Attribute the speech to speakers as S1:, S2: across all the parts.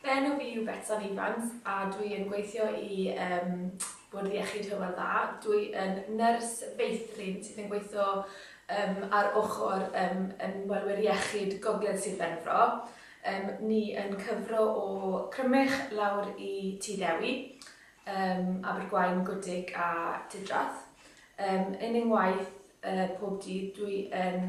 S1: Fy enw fi yw Betsan Evans a dwi yn gweithio i ym Bwrdd Iechyd Hywel Dda. Dwi yn nyrs feithrin sydd yn gweithio ym ar ochr ym ymwelwyr iechyd Gogledd Sir Benfro. Ym ni yn cyfro o Crymych lawr i Tŷ Ddewi, ym Abergwaun, Gwdig a Tudrath. Ym yn yng ngwaith y pob dydd dwi yn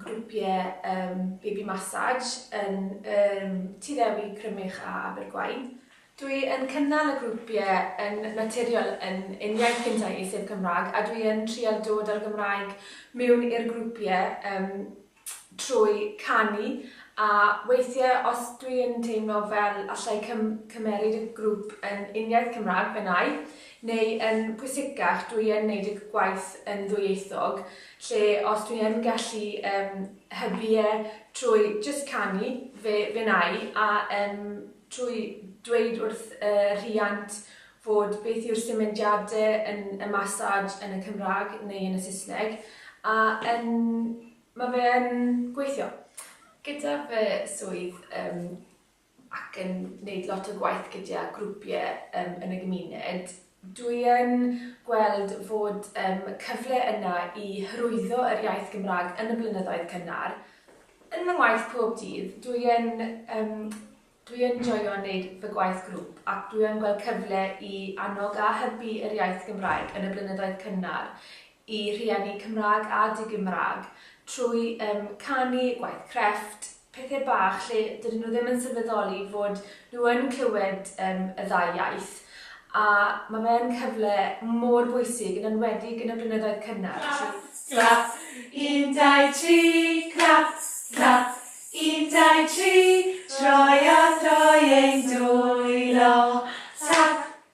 S1: grwpiau yym baby massage yn yym Tŷ Ddewi, Crymych a Abergwaun. Dwi yn cynnal y grwpiau yn naturiol yn yn iaith Cyn Teulu sef Cymraeg a dwi yn trial dod â'r Gymraeg mewn i'r grwpiau yym trwy canu a weithiau os dwi yn teimlo fel allai cym- cymeryd y grŵp yn uniaith Cymraeg fe wna i, neu yn pwysicach dwi yn neud y gwaith yn ddwyieithog lle os dwi yn gallu yym hybu e trwy jyst canu fe fe wna i a yym trwy dweud wrth y rhiant fod beth yw'r symudiade yn y massage yn y Cymraeg neu yn y Saesneg a yn ma' fe yn gweithio. Gyda fy swydd yym ac yn neud lot o gwaith gyda grwpie yym yn y gymuned, dwi yn gweld fod yym cyfle yna i hyrwyddo yr iaith Gymraeg yn y blynyddoedd cynnar. Yn fy ngwaith pob dydd, dwi yn yym dwi yn joio neud fy gwaith grŵp ac dwi yn gweld cyfle i annog a hybu yr iaith Gymraeg yn y blynyddoedd cynnar i rhieni Cymraeg a di-Gymraeg trwy yym canu, gwaith crefft, pethe bach lle dydyn nhw ddim yn sylweddoli fod nhw yn clywed yym y ddau iaith a ma' fe yn cyfle mor bwysig yn enwedig yn y blynyddoedd cynnar trwy... Clap, clap,
S2: un, dau, tri, clap, clap, un, dau, tri, troi a throi ein dwylo, tap,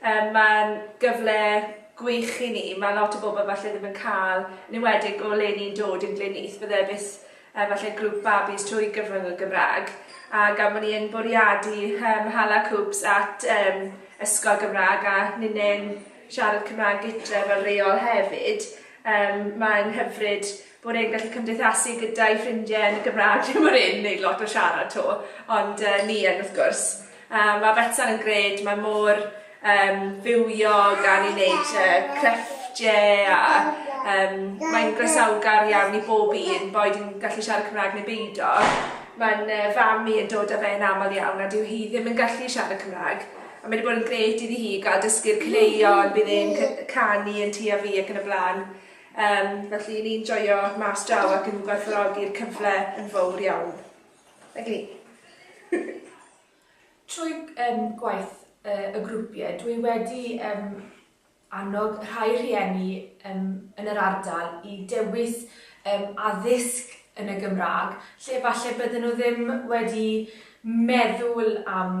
S3: Yym mae'n gyfle gwych i ni, mae lot o bobl falle ddim yn cael, yn enwedig o le ni'n dod yn Glyn Is, bydde bus yy falle grŵp babis trwy gyfrwng y Gymraeg a gan bod ni yn bwriadu yym hala Coops at yym ysgol Gymraeg a ninne'n siarad Cymraeg gytre fel rheol hefyd yym mae'n hyfryd bod e'n gallu cymdeithasu gyda'i ffrindiau yn y Gymraeg, dwi ddim yn un wneud lot o siarad to, ond uh, ni yn wrth gwrs. Uh, mae Betsan yn gred, mae mor um, fywio gan ei wneud uh, crefftiau a um, mae'n gresawgar iawn i bob un, boed yn gallu siarad Cymraeg neu beidio. Mae'n uh, fam i yn dod â fe'n aml iawn a dyw hi ddim yn gallu siarad Cymraeg. A mae wedi bod yn gred iddi hi gael dysgu'r cleion, bydd e'n canu yn tu a fi ac yn y blaen. Yym, felly i ni'n joio mas draw ac yn gwerthfawrogi'r cyfle yn fawr iawn. Nag i ni?
S1: Trwy um, gwaith uh, y grwpiau, dwi wedi um, annog rhai rhieni um, yn yr ardal i dewis um, addysg yn y Gymraeg, lle falle bydden nhw ddim wedi meddwl am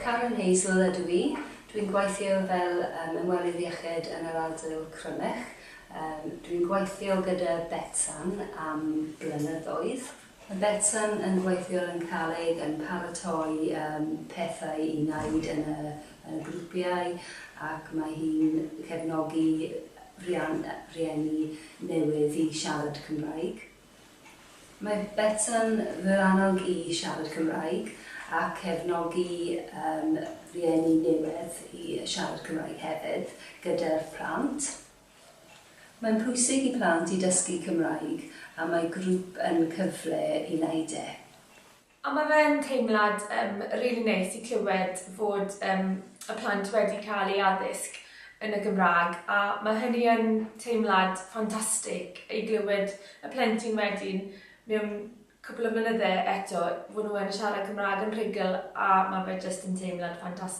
S4: Karen Hazel ydw i. Dw i'n gweithio fel ymwelydd iechyd yn yr ardal Crymych. Dw i'n gweithio gyda Betsan am blynyddoedd. Mae Betsan yn gweithio yn caled yn paratoi pethau i wneud yn y grwpiau ac mae hi'n cefnogi rhieni newydd i siarad Cymraeg. Mae Betsan fy annog i siarad Cymraeg a cefnogi yn rieni niwed i siarad Cymraeg hefyd gyda'r plant. Mae'n pwysig i plant i dysgu Cymraeg a mae grwp yn cyfle i wneud e. A ma
S1: fe'n teimlad yym rili neis i clywed fod yym y plant wedi cael eu addysg yn y Gymraeg a ma hynny yn teimlad ffantastig i glywed y plentyn wedyn mewn cwpwl o flynydde eto fod nhw yn siarad Cymraeg yn rhugl a ma fe jyst yn teimlad ffantastig.